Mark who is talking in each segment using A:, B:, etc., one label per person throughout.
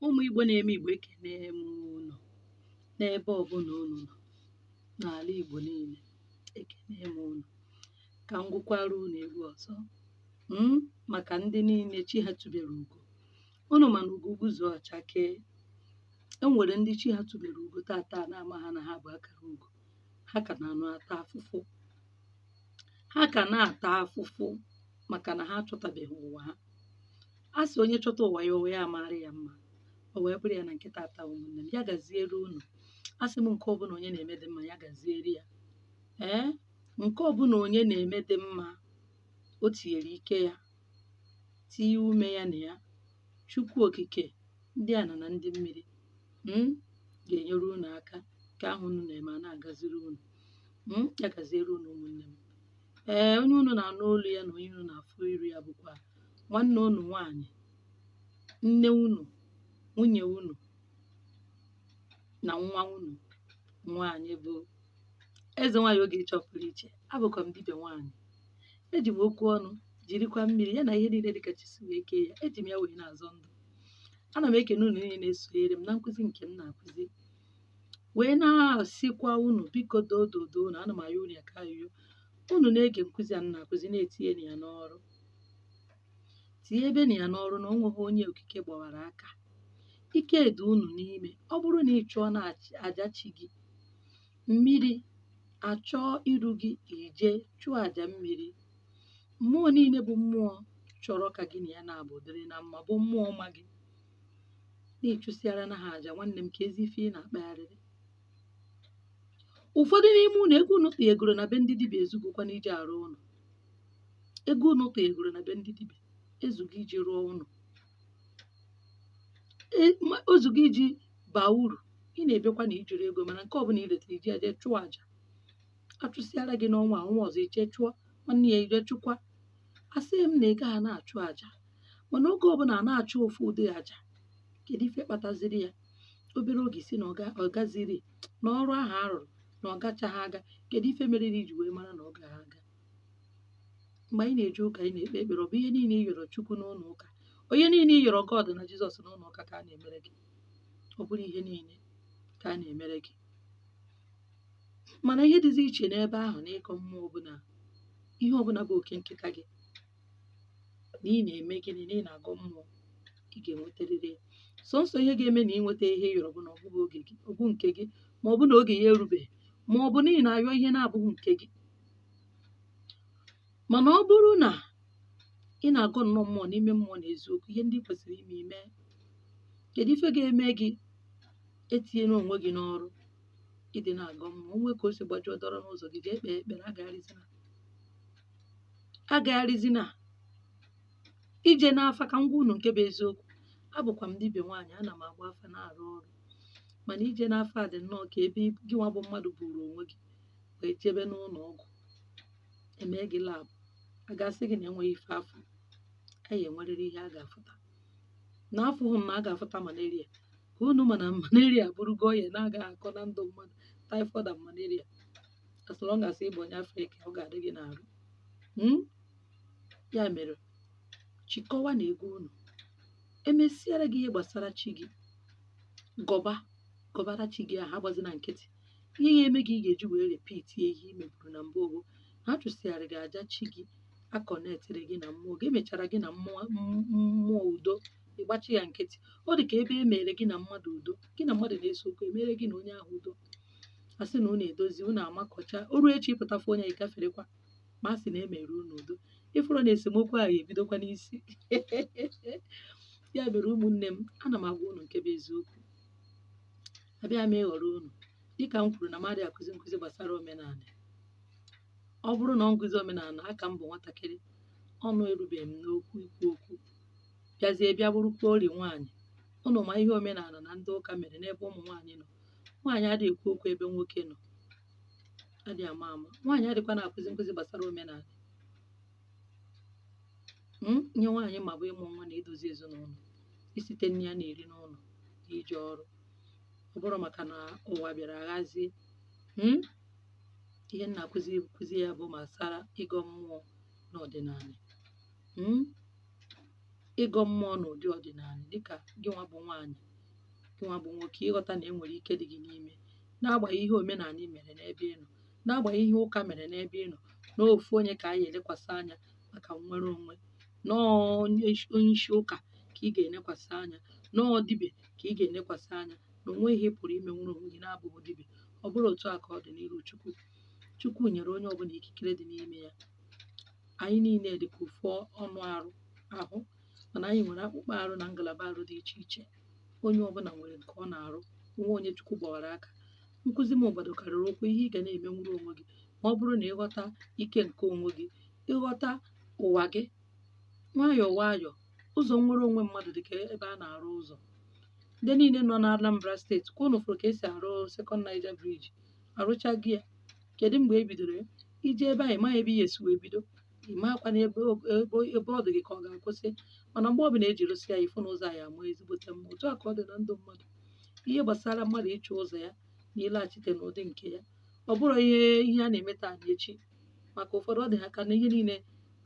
A: ụmụ Igbo na-eme Igbo ekene m unu n'ebe ọbụla unu nọ n'ala Igbo niile ekene m unu ka m gụkwara unu egwu ọzọ mm, maka ndị niile chi ha tụbere ugo unu ma na ugo gbuzuo ọ chakee e nwere ndị chi ha tụbere ugo tata na-amaha na ha bu akara ugo ha ka na-anọ ata afụfụ ha ka na-ata afụfụ maka na ha achọtabeghị ụwa ha a sị onye chọta ụwa ya ụwa ya amaara ya mma o wee bụrụ ya na nke tata ụmụnne m ya gaziere unu asị m nke ọbụla onye na-eme dị mma ya gaziere ya ee nke ọbụla onye na-eme dị mma o tinyere ike ya tinye ume ya na ya chukwu okike ndị ana na ndị mmiri mm, ga-enyere unu aka nke ahụ unu na-eme a na-agaziri unu mm, ya gaziere unu ụmụnne m ee onye unu na-anụ olu ya na onye unu na-afụ iru ya bụkwa nwanne unu nwaanyị nne unu nwunye unu na nwa unu nwaanyị bụ eze nwaanyị Ogechi Ọpụrụiche abụkwa m dibịa nwaanyị eji m okwu ọnụ jirikwa mmiri ya na ihe niile dịka chi si wee kee ya eji m ya wee na-azọ ndụ ana m ekene unu niile na-esonyere m na nkụzi nke m na-akụzi wee na-asịkwa unu biko doo dodo unu ana m ayọ unu ya ka ayọ unu na-ege nkụzi a m na-akụzi na-etinye ya n'ọrụ tinyebenụ ya n'ọrụ na o nweghị onye okike gbawara aka ike dị unu n'ime ọ bụrụ na ị chụọna aja chi gị mmiri achọọ iru gị i je chụọ aja mmiri mmụọ niile bụ mmụọ chọrọ ka gị na ya naabụ dịrị na mma bụ mmụọ ma gị na ị chụsịarana ha aja nwanne m keezi ife ị na-akpagharịrị ụfọdụ n'ime unu ego unu tụnyegoro na be ndị dibịa ezugokwa n'iji arụ ụlọ ego unu tụnyegoro na be ndị dibịa ezugo iji rụọ ụlọ E- ma- o zugo iji baa uru ị na-ebekwa na i jirọ ego mana nke ọbụla i reta i ji ya je chụọ aja a chụsịara gị n'ọnwa a, ọnwa ọzọ i je chụọ nwanne ya i je chụkwa asịghị m na ị gaghị na-achụ aja mana oge ọbụla a na-achụ ofu ụdị aja kedu ife kpataziri ya obere oge ị sị na ọ gaziri na ọrụ ahụ a rụrụ na ọ gachaghị aga kedu ife mere na i ji wee mara na ọ gaghị aga mgbe anyị na-eje ụka anyị na-ekpe ekpere ọ bụ ihe niile ị yọrọ chukwu n'ụlọ ụka ọ ihe niile ị yọrọ god na jizọs n'ụlọ ụka ka a na-emere gị ọ bụrọ ihe niile ka a na-emere gị mana ihe dịzi iche n'ebe ahụ na ịgọ mmụọ ọbụla ihe ọbụla bụ oke nke aka gị na ị na-eme gịnị na ị na-agọ mmụọ ị ga-enweterịrị ya sọnsọ ihe ga-eme na ị nweta ihe ị yọrọ bụ na ọ bụghị oge gị ọ bụ nke gị ma ọ bụ na oge ya erubeghị ma ọ bụ na ị na-ayọ ihe na-abụghị nke gị mana ọ bụrụ na ị na-agọ nnọọ mmụọ n'ime mmụọ na eziokwu ihe ndị ị kwesịrị ime i mee kedu ife ga-eme gị etinyere onwe gị n'ọrụ ị dị na-agọ mmụọ o nwee ka o si gbajọ dọrọ n'ụzọ gị ga-ekpe ekpere agagharịzina agagharịzịna ije n'afa ka m gwa unu nke bụ eziokwu abụkwa m dibịa nwaanyị ana m agba afa na-arụ ọrụ mana ije n'afa dị nnọọ ka ebe gị nwa bụ mmadụ buru onwe gị wee jebe n'ụlọ ọgwụ e mee gị lab a ga-asị gị na enweghị ife a fụrụ a ya-enwerịrị ihe a ga-afụta na afụghị m na a ga-afụta malaria ka unu ma na malaria bụrụgo ọya na-agaghị akọ na ndụ mmadụ typhoid and malaria as long as ị bụ onye afrịka ọ ga-adị gị n'arụ Mm? ya mere chịkọwanụ ego unu e mesịara gị ihe gbasara chi gị gọba gọbara chi gị ahụ agbazina nkịtị ihe ya-eme gị ị ga-eji wee repeat ihe i meburu na mbụ oge ha chụsịara gị aja chi gị a connectịrị gị na mmụọ gị emechara gị na mmụọ m- mmụọ udo ị gbachi ya nkịtị ọ dị ka ebe e mere gị na mmadụ udo gị na mmadụ na-ese okwu emere gị na onye ahụ udo a sị na unu edozie unu amakọcha o ruo echi ị pụta fụ onye ị gaferekwa ma a sị na emere unu udo ị fụrụ na esemokwu ahụ ebidokwa n'isi ya mere ụmụnne m ana m agwa unu nke bụ eziokwu abịa m ịghọrọ unu dịka m kwuru na m adịghị akụzi nkụzi gbasara omenala ọ bụrụ na ọ nkụzi omenala aka m bụ nwatakịrị ọnụ erubeghị m n'okwu ikwu okwu bịazie bịa bụrụkwa ori nwaanyị unu ma ihe omenala na ndị ụka mere n'ebe ụmụ nwaanyị nọ nwaanyị adịghị ekwu okwu ebe nwoke nọ adịghị ama ama nwaanyị adịkwa na-akụzi nkụzi gbasara omenanị Mm, ihe nwaanyị ma bụ ịmụ nwa na idozi ezinụlọ isite nni a na-eri n'ụlọ na ije ọrụ ọ bụrụ maka na ụwa bịara aghazie Mm, ihe m na-akụzi kụzi ya bụ gbasara ịgọ mmụọ n'ọdịnanị Mm, ịgọ mmụọ n'ụdị ọdịnanị dịka gị nwa bụ nwaanyị gị nwa bụ nwoke ịghọta na e nwere ike dị gị n'ime n'agbanyeghị ihe omenanị mere n'ebe ị nọ n'agbanyeghị ihe ụka mere n'ebe ị nọ na ofu onye ka a ya-elekwasị anya maka nnwere onwe na ọ onye isi- onye isi ụka ka ị ga-elekwasị anya na ọ dibịa ka ị ga-elekwasị anya na o nweghị ihe ị pụrụ ime nwere onwe gị na-abụghị dibịa ọ bụrọ otu a ka ọ dị n'iru chukwu chukwu nyere onye ọbụla ikikere dị n'ime ya anyị niile dị ka ofu anụ arụ ahụ mana anyị nwere akpụkpọ arụ na ngalaba arụ dị iche iche onye ọbụla nwere nke ọ na-arụ nwa onye chukwu gbawara aka nkụzi m gbadokarịrị ụkwụ ihe ị ga na-eme nwere onwe gị ma ọ bụrụ na ị ghọta ike nke onwe gị ị ghọta ụwa gị nwayọọ nwayọọ ụzọ nnwere onwe mmadụ dị ka ebe a na-arụ ụzọ ndị niile nọ na Anambra steeti ka unu fụrụ ka e si arụ Second Niger Bridge arụchaghị ya kedu mgbe e bidoro ya i je ebe ahụ ị ma ebe ihe si wee bido ị makwanụ ebe o- ebe o- ebe ọ dị gị ka ọ ga-akwụsị mana mgbe ọbụla e ji rụsịa ya ị fụ na ụzọ anyị amaa ezigbote mma otu a ka ọ dị na ndụ mmadụ ihe gbasara mmadụ ịchọ ụzọ ya na ịlaghachite n'ụdị nke ya ọ bụrọ ihe ihe a na-eme taa na echi maka ụfọdụ ọ dị ha ka na ihe niile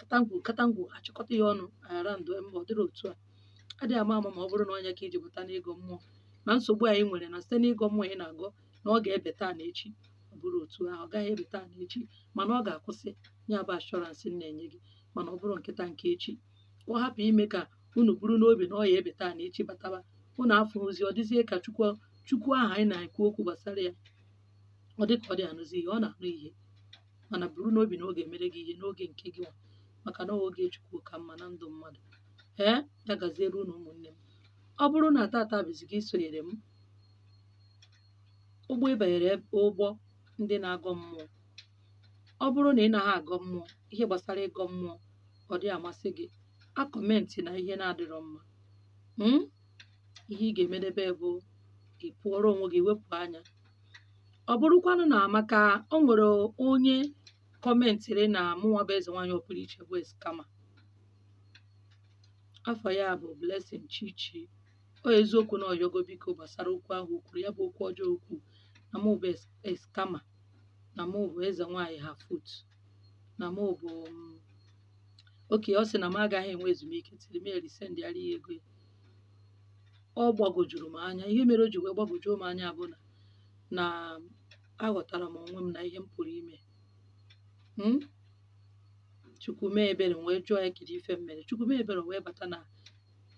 A: katangwu katangwu achịkọta ya ọnụ aghara ndụ mba ọ dịrọ otu a adịghị ama ama ma ọ bụrụ na ọ ya ka i ji bata n'ịgọ mmụọ na nsogbu anyị nwere na site n'ịgọ mmụọ ị na-agọ na ọ ga-ebe taa na echi ọ bụrọ otu ahụ ọ gaghị ebe taa na echi mana ọ ga-akwụsị ya bụ assurance m na-enye gị mana ọ bụrọ nke taa nke echi ka ọ hapụ ime ka unu buru n'obi na ọ ya-ebe taa na echi bataba unu afụzi ọ dịzie ka chukwu chukwu ahụ anyị na-ekwu okwu gbasara ya ọ dị ka ọ dị anụzi ihe ọ na-anụ ihe mana buru n'obi na ọ ga-emere gị ihe n'oge nke gị nwa maka na oge chukwu ka mma na ndụ mmadụ ee ya gaziere unu ụmụnne m ọ bụrụ na tata bụ izizi gị isonyere m ụgbọ ị banyere ụgbọ ndị na-agọ mmụọ ọ bụrụ na ị naghị agọ mmụọ ihe gbasara ịgọ mmụọ ọ dị amasị gị akọmentịna ihe na-adịrọ mma mm? ihe ị ga-emedebe bụ ị pụọrọ onwe gị wepụ anya ọ bụrụkwanụ na maka o nwere onye kọmentịrị na mụnwa bụ eze nwaanyị ọpụrụ iche bụ scammer afa ya bụ Blessing Chichi ọ eziokwu na ọ yọgo biko gbasara okwu ahụ o kwuru ya bụ okwu ọjọọ o kwuu na mụ bụ s- scammer na mụ bụ eze nwaanyị her foot na mụ bụ mm, okay ọ sị na m agaghị enwe ezumike till m erisendịara ya ego ya. ọ gbagwojuru m anya ihe mere o ji wee gbagwojuo m anya bụ na na aghọtara m onwe m na ihe m pụrụ ime Mm? chukwu mee ebere m wee jụọ ya kedu ife m mere chukwu mee ebere o wee bata na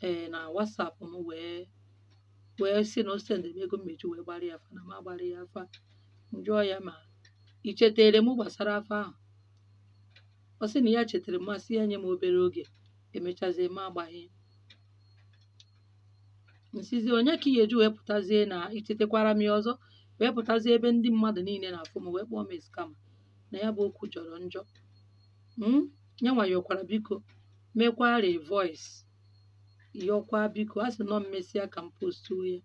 A: ee na WhatsApp m wee wee sị na o sendịrị m ego m eji wee gbara ya afa na m agbara ya afa m jụọ ya ma i chetere m gbasara afa ahụ ọ sị na ya chetara m m asị ya nye m obere oge emechazie m agbaghị m sịzị ọ ya ka ị ya-eji wee pụtazie na i chetekwara m ya ọzọ wee pụtazie ebe ndị mmadụ niile na-afụ m wee kpọọ m scammer na ya bụ okwu jọrọ njọ mm, ya nwa yọkwara biko mekwara voice yọkwa biko a sị nọ mmesịa ka m postuo ya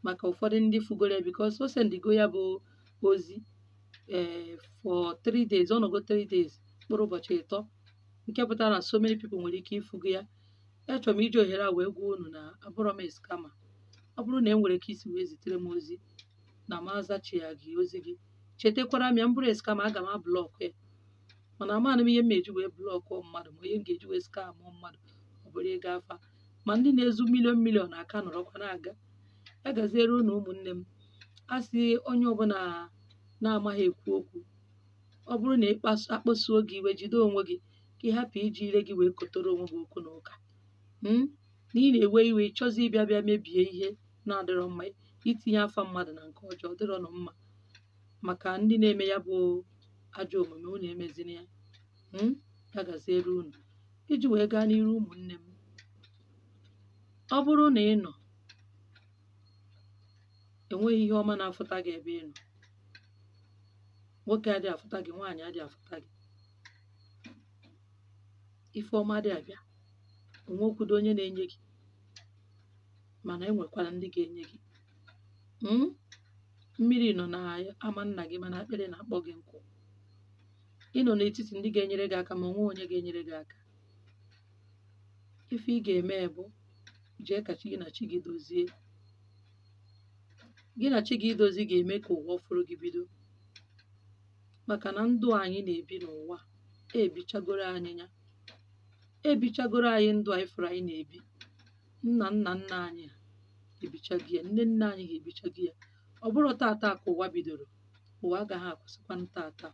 A: maka ụfọdụ ndị fụgoro ya because o sendigo ya bụ ozi ee for 3 days ọ nọgo 3 days mkpụrụ ụbọchị ịtọ nke pụtara na so many people nwere ike ịfụgo ya achọrọ m iji ohere a wee gwa unu na abụrọ m scammer ọ bụrụ na e nwere ka i si wee zitere m ozi na m azachighị ozi gị chetakwara m ya m bụrụ scammer aga m ablọkụ ya mana amaghị m ihe m eji wee blọkụ mmadụ ma ihe m ga-eji wee skamụ mmadụ ọ bụrụ ịga afa ma ndị na-ezu million million aka nọrọkwa na-aga ya gaziere unu ụmụnne m a sị onye ọbụla na-amaghị ekwu okwu ọ bụrụ na ịkpasu a kpasuo gị iwe jide onwe gị ka ị hapụ iji ire gị wee kotoro onwe gị okwu na ụka na ị na-ewe iwe ị chọzi ịbịa bịa mebie ihe na-adịrọ mma itinye afa mmadụ na nke ọjọọ adịrọnụ mma maka ndị na-eme ya bụ ajọ omume unu emezina ya mm, ya gaziere unu iji wee gaa n'iru ụmụnne m ọ bụrụ na ị nọ enweghị ihe ọma na-afụta gị ebe ị nọ nwoke adịghị afụta gị nwaanyị adịghị afụta gị ife ọma adịghị abịa onwekwudo onye na-enye gị mana e nwekwara ndị ga-enye gị mm? mmiri nọ na ama nna gị mana akpịrị na-akpọ gị nkụ ị nọ n'etiti ndị ga-enyere gị aka ma o nweghị onye ga-enyere gị aka ife ị ga-eme bụ jee ka chi gị na chi gị dozie gị na chi gị idozi ga-eme ka ụwa ọfụrụ gị bido maka na ndụ anyị na-ebi n'ụwa ebichagoro anyị ya ebichagoro anyị ndụ anyị fụrụ anyị na-ebi nna nna nna anyị ha ebichago ya nne nne anyị ha ebichago ya ọ bụrọ tata ka ụwa bidoro ụwa agaghị akwụsịkwanụ tata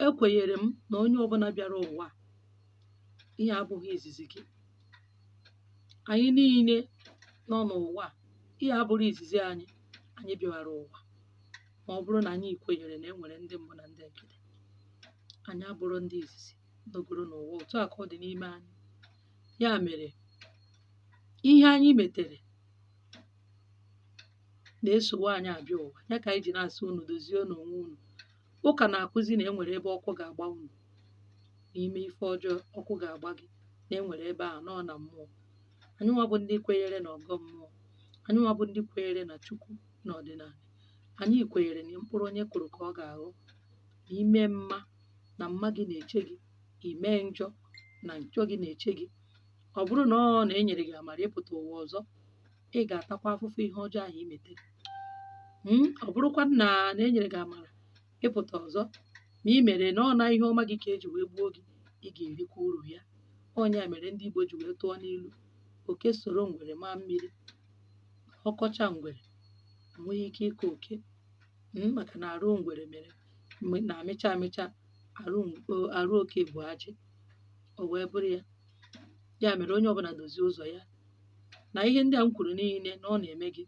A: ekwenyere m na onye ọbụla bịara ụwa a, ihe a abụghị izizi gị anyị niile nọ n'ụwa a, ihe a abụrọ izizi anyị anyị bịara ụwa ma ọ bụrụ na anyị kwenyere na e nwere ndị mbụ na ndị egede anyị abụrọ ndị izizi nọgoro n'ụwa otu a ka ọ dị n'ime anyị ya mere ihe anyị metere na-esowe anyị abịa ụwa ya ka anyị ji na-asị unu dozienụ onwe unu ụka na-akụzi na enwere ebe ọkụ ga-agba unu na i mee ife ọjọọ ọkụ ga-agba gị na enwere ebe a nọ na mmụọ anyị nwa bụ ndị kwenyere na ọgọ mmụọ anyị nwa bụ ndị kwenyere na chukwu na ọdịnala Anyị kwenyere na mkpụrụ onye kụrụ ka ọ ga-aghọ ime mma na mma gị na-eche gị ime njọ na njọ gị na-eche gị ọ bụrụ na ọ na enyere gị amara ịpụta ụwa ọzọ ị ga-atakwa afụfụ ihe ọjọọ ahụ i metere Hmm? ọ bụrụkwa na enyere gị amara ịpụta ọzọ ma ị mere na ọ na ihe ọma gị ka eji wee gbuo gị ị ga-erikwa uru ya ọ ya mere ndị Igbo ji wee tụọ n'ilu oke soro ngwere maa mmiri ọkọcha ngwere enweghị ike ịkọ oke mm, maka na arụ ngwere mere na-amịcha amịcha arụ ng- o- arụ oke bụ ajị o wee bụrụ ya ya mere onye ọbụla dozie ụzọ ya na ihe ndị a m kwuru niile na ọ na-eme gị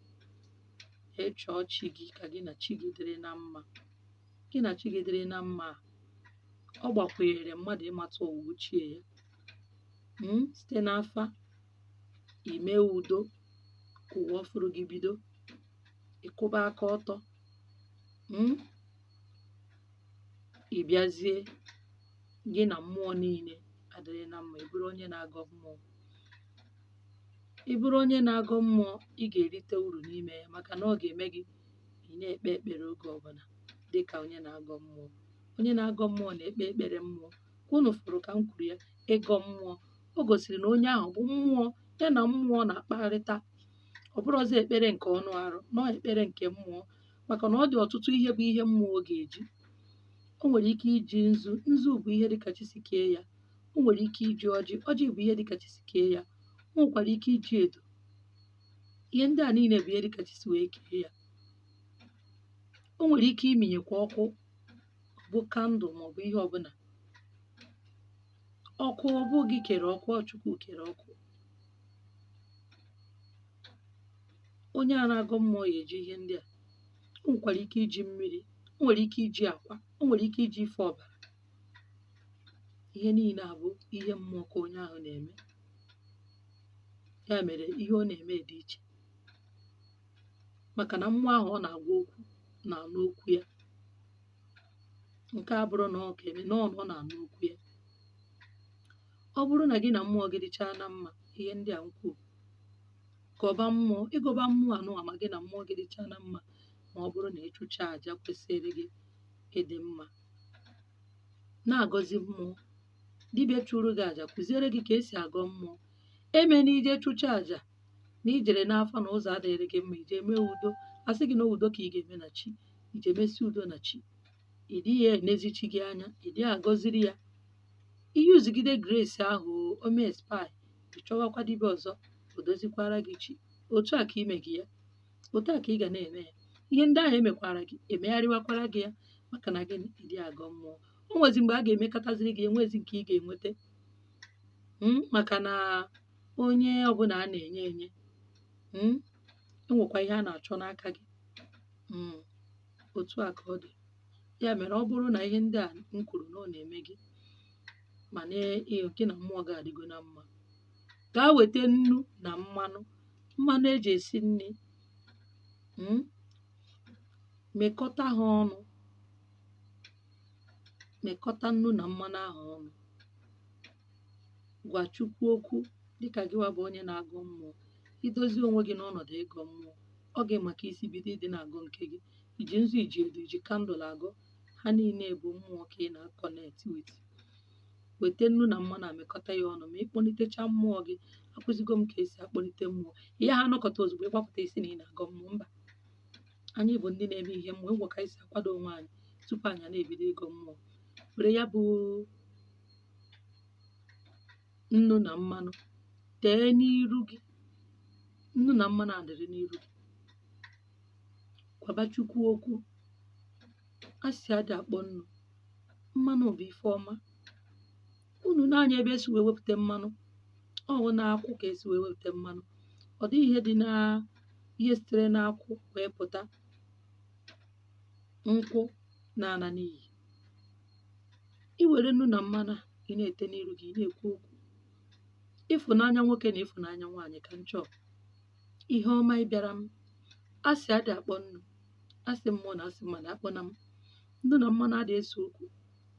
A: ị chọọ chi gị ka gị na chi gị dịrị na mma gị na chi gị dịrị na mma a, ọ gbakwunyere mmadụ ịmata ụwa ochie ya mm, site n'afa ime udo ka ụwa ọfụrụ gị bido ịkwụba aka ọtọ mm? ị bịazie gị na mmụọ niile adịrị na mma ị bụrụ onye na-agọ mmụọ ị bụrụ onye na-agọ mmụọ ị ga-erite uru n'ime ya maka na ọ ga-eme gị ị na-ekpe ekpere oge ọbụla dị ka onye na-agọ mmụọ onye na-agọ mmụọ na-ekpe ekpere mmụọ ka unu fụrụ ka m kwuru ya ịgọ mmụọ o gosiri na onye ahụ bụ mmụọ ya na mmụọ na-akparịta ọ bụrọzi ekpere nke ọnụ arụ na ọ ekpere nke mmụọ maka na ọ dị ọtụtụ ihe bụ ihe mmụọ ga-eji o nwere ike iji nzu nzu bụ ihe dịka chi si kee ya o nwere ike iji ọjị ọjị bụ ihe dịka chi si kee ya o nwekwara ike iji edo ihe ndị a niile bụ ihe dịka chi si wee kee ya o nwere ike iminyekwa ọkụ bụ kandụl maọbụ ihe ọbụla ọkụ ọ bụ gị kere ọkụ ọ chukwu kere ọkụ onye a na-agọ mmụọ ya eji ihe ndị a o nwekwara ike iji mmiri o nwere ike iji akwa o nwere ike iji ife ọbara ihe niile a bụ ihe mmụọ ka onye ahụ na-eme ya mere ihe ọ na-eme dị iche maka na mmụọ ahụ ọ na-agwa okwu na-anụ okwu ya nke a bụrụ na ọ ga-eme na ọ na-anụ okwu ya ọ bụrụ na gị na mmụọ gị dịchaa na mma ihe ndị a m kwuru gọba mmụọ ị gọba mmụọ anụwa ma gị na mmụọ gị dịchaa na mma ma ọ bụrụ na ị chụchaa aja kwesịrị gị ịdị mma na-agọzi mmụọ dibịa chụrụ gị aja kụziere gị ka esi agọ mmụọ eme na i je chụchaa aja na ijere n'afa na ụzọ adịrị gị mma ije mee udo a sị gị na udo ka ị ga-eme na chi ije mesi udo na chi ị dịghị enezi chi gị anya ị dịghị agọziri ya i yuzugide grace ahụ o mee expire ị chọwakwa dibịa ọzọ o dozikwara gị chi otu a ka ime gị ya otu a ka ị ga na-eme ya ihe ndị ahụ emekwara gị emegharịwakwara gị ya maka na gị adị agọ mmụọ o nwezi mgbe a ga-emekataziri gị enwezi nke ị ga-enweta maka na onye ọbụla a na-enye enye mm, enwekwa ihe a na-achọ n'aka gị mm, otu a ka ọ dị ya mere ọ bụrụ na ihe ndị a m kwuru na ọ na-eme gị ma na ị- gị na mmụọ gị adịgo na mma gaa weta nnu na mmanụ mmanụ eji esi nri mm, mekọta ha ọnụ mekọta nnu na mmanụ ahụ ọnụ gwa Chukwu okwu dịka gịwa bụ onye na-agọ mmụọ idozi onwe gị n'ọnọdụ ịgọ mmụọ ọ gị ma ka i si bido ịdị na-agọ nke gị iji nzu iji edo iji candle agọ ha niile bụ mmụọ ka ị na-aconnect with weta nnu na mmanụ a mekọta ya ọnụ ma ịkpọlitecha mmụọ gị akụzigo m ka esi akpọlite mmụọ ị yaha anọkata ozugbo ị gbapụta ị sị na ị na-agọ mmụọ mba anyị bụ ndị na-eme ihe mmụọ nwee ka anyị si akwado onwe anyị tupu anyị na-ebido ịgọ mmụọ were ya bụ nnu na mmanụ tee n'iru gị nnu na mmanụ adịrị n'iru gị gwaba Chukwu okwu asị adị akpọ nnu mmanụ bụ ife ọma unu nee anya ebe esi wee wepụta mmanụ ọ bụ n'akwụ ka esi wee wepụta mmanụ ọ dịghị ihe dị na ihe sitere n'akwụ wee pụta nkwụ na-ana n'iyi i wère nnu nà mmanụ à ị na-ète n'iru gị, ị na-èkwu okwu ịfụ̀nanya nwokė nà ịfụ̀nanya nwaanyị̀ kà m chọ ihe ọma ị bịara m asị adị àkpọ nnu̇ asị mmụọ nà asị mmadụ̀ akpọnà m nnu nà mmanụ adị esè okwu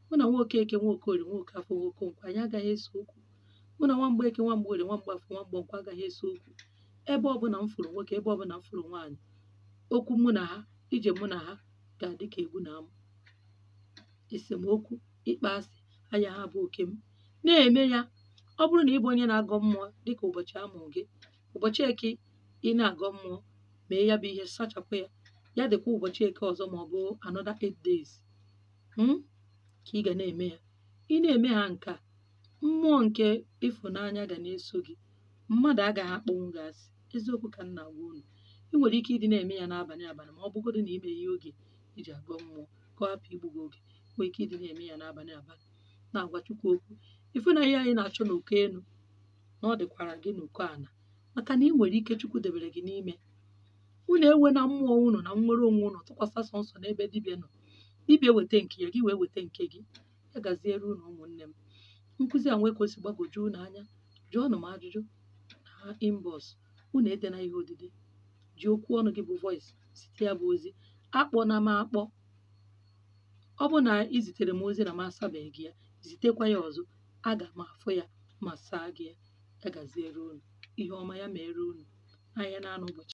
A: mụ nà nwoke ekė nwoke òrie nwoke afọ nwoke ǹkwọ ànyị agaghị esè okwu mụ nà nwa m̀gbè eke nwa m̀gbè òrie nwa m̀gbè afọ nwa m̀gbè ǹkwọ agaghị esè okwu ebe ọbụnà m fụ̀rụ̀ nwokė ebe ọbụnà m fụ̀rụ̀ nwaanyị̀ okwu mụ nà ha ije mụ nà ha. ga-adị ka egwu na amụ esemokwu ịkpọ asị ayaha abụ oke m na-eme ya ọ bụrụ na ị bụ onye na-agọ mmụọ dịka ụbọchị a mụrụ gị ụbọchị eke ị na-agọ mmụọ mee ya bụ ihe sachapụ ya ya dịkwa ụbọchị eke ọzọ ma ọ bụ another eight days mm, ka ị ga na-eme ya ị na-eme ha nke a mmụọ nke ịfụnanya ga na-eso gị mmadụ agaghị akpọnwu gị asị eziokwu ka m na-agwa unu ị nwere ike ịdị na-eme ya n'abalị abalị ma ọ bụgodị na ime ihe oge iji agọ mmụọ ka ọ hapụ igbu gị oge nwere ike ịdị na-eme ya n'abalị abalị na-agwa Chukwu okwu ife na ihe anyị na-achọ n'uko elu na ọ dịkwara gị n'uko ana maka na ị nwere ike Chukwu debere gị n'ime unu ewena mmụọ unu na nnwere onwe unu tụkwasị sọnsọ n'ebe dibịa nọ dibịa weta nke ya gị wee weta nke gị ya gaziere unu ụmụnne m nkụzi a nwee ka o si gbagwoju unu anya jụọnụ m ajụjụ na inbox unu edena ihe odide ji okwu ọnụ gị bụ voice zite ya bụ ozi akpọna m akpọ ọ bụ na ị zitere m ozi na m asabeghị gị ya zitekwa ya ọzọ aga m afụ ya ma saa gị ya ya gaziere unu ihe ọma ya mere unu ahịa na-anọ ụbọchị